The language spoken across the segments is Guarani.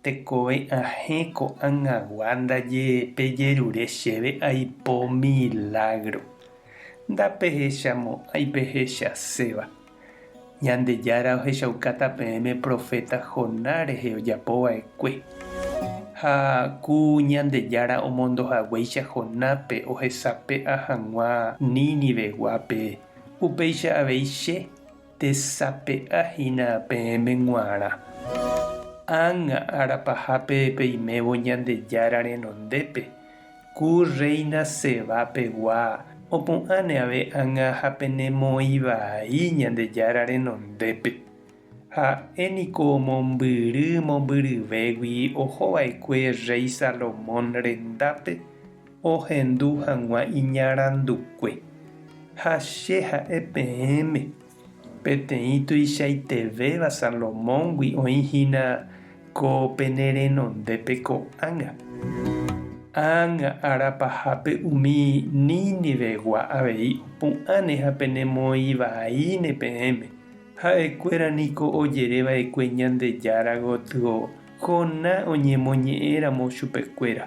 Tekove ahẽ ko'ag̃agua ndaje pejerure chéve aipo milágro. Ndapehechamo'ãi pehechaséva. Ñandejára ohechaukáta peẽme proféta Jonás rehe ojapo va'ekue. Ha ku Ñandejára omondo haguéicha Jonáspe ohesape'a hag̃ua Nínive guápe, upéicha avei che. tesape'a hína peẽme g̃uarã. Ág̃a ára pahápe peimévo Ñandejára renondépe, ku rréina Sebá pegua opu'ãne ave ág̃a ha penemoĩ vai Ñandejára renondépe. Ha'e niko mombyry mombyryvégui oho va'ekue rréi Salomón rendápe, ohendu hag̃ua iñarandukue. Ha che ha'e peẽme, peteĩ tuichaitevéva Salomóngui oĩ hína ko pene renondépe ko'ág̃a. Ág̃a ára pahápe umi Nínivegua avei opu'ãne ha penemoĩvaíne peẽme, ha'ekuéra niko ojereva'ekue Ñandejára gotyo Jonás oñemoñe'ẽramo chupekuéra.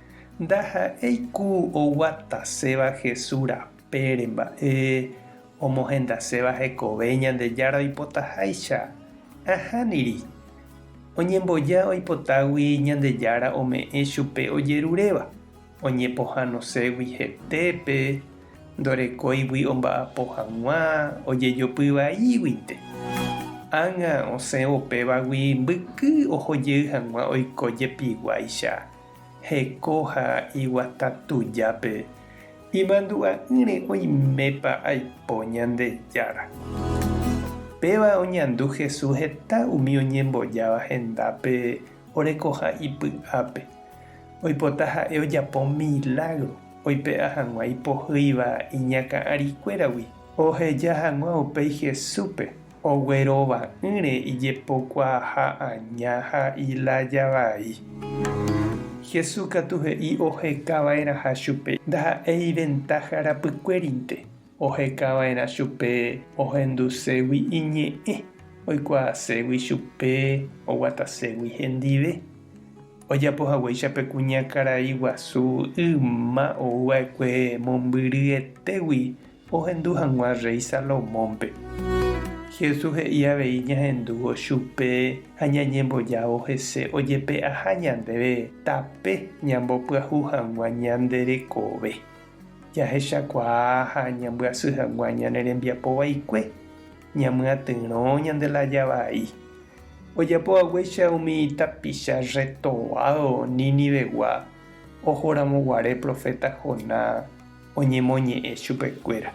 Ndaha'éi ku oguataséva Jesús rapére mba'e omohendaséva hekove Ñandejára oipotaháicha. Ahániri. Oñemboja oipotágui Ñandejára ome'ẽ chupe ojeruréva, oñepohãnoségui hetépe, ndorekóigui omba'apo hag̃ua, ojejopy vaíguinte. Ág̃a osẽ upévagui mbyky oho jey hag̃ua oiko jepiguáicha. hekoha iguata tujápe, imandu'a'ỹre oimépa aipo Ñandejára. Péva oñandu Jesús heta umi oñembojáva hendápe orekoha ipy'ápe. Oipota ha'e ojapo milágro oipe'a hag̃ua ipohýiva iñakã'arikuéragui. Oheja hag̃ua upéi Jesúspe Oguerova'ỹre ijepokuaaha aña ha ilája vai. Jesús katu he'i ohekava'erãha chupe, ndaha'éi ventáha rapykuérinte. Ohekava'erã chupe ohenduségui iñe'ẽ, oikuaaségui chupe oguataségui hendive. Ojapo haguéicha pe kuñakarai guasu yma ouva'ekue mombyryetégui Ohendu hag̃ua rréi Salomónpe. Jesús he'i avei ñahendúvo chupe ha ñañembojávo hese ojepe'aha ñandéve tape ñambopyahu hag̃ua ñande rekove, jahechakuaa ha ñambyasy hag̃ua ñane rembiapo vaikue, ñamyatyrõ ñande lája vai. Ojapo haguéicha umi tapicha rretõvao Nínivegua, ohóramo guare proféta Jonás. oñemoñe'ẽ chupekuéra.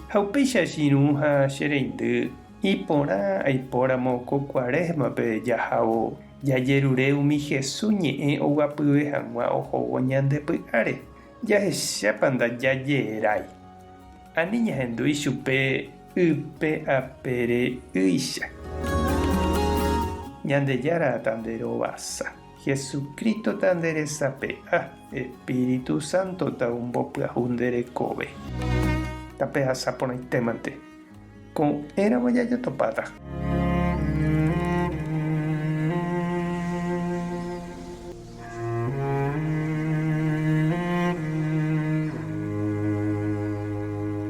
Ha upéicha chirũ ha che reindy, iporã aipóramo ko Kuaréhmape jahávo jajerure umi Hesu ñe'ẽ oguapyve hag̃ua ohóvo ñande py'áre, jahechápa ndajajeerái. Ani ñahendu ichupe ype apere'ỹicha. Ñandejára tande rovasa. Jesucristo-ta nde resape'a, Espíritu Santo-ta ombopyahu nde rekove. Tapehasa porãitémante, ko'ẽramo jajotopáta.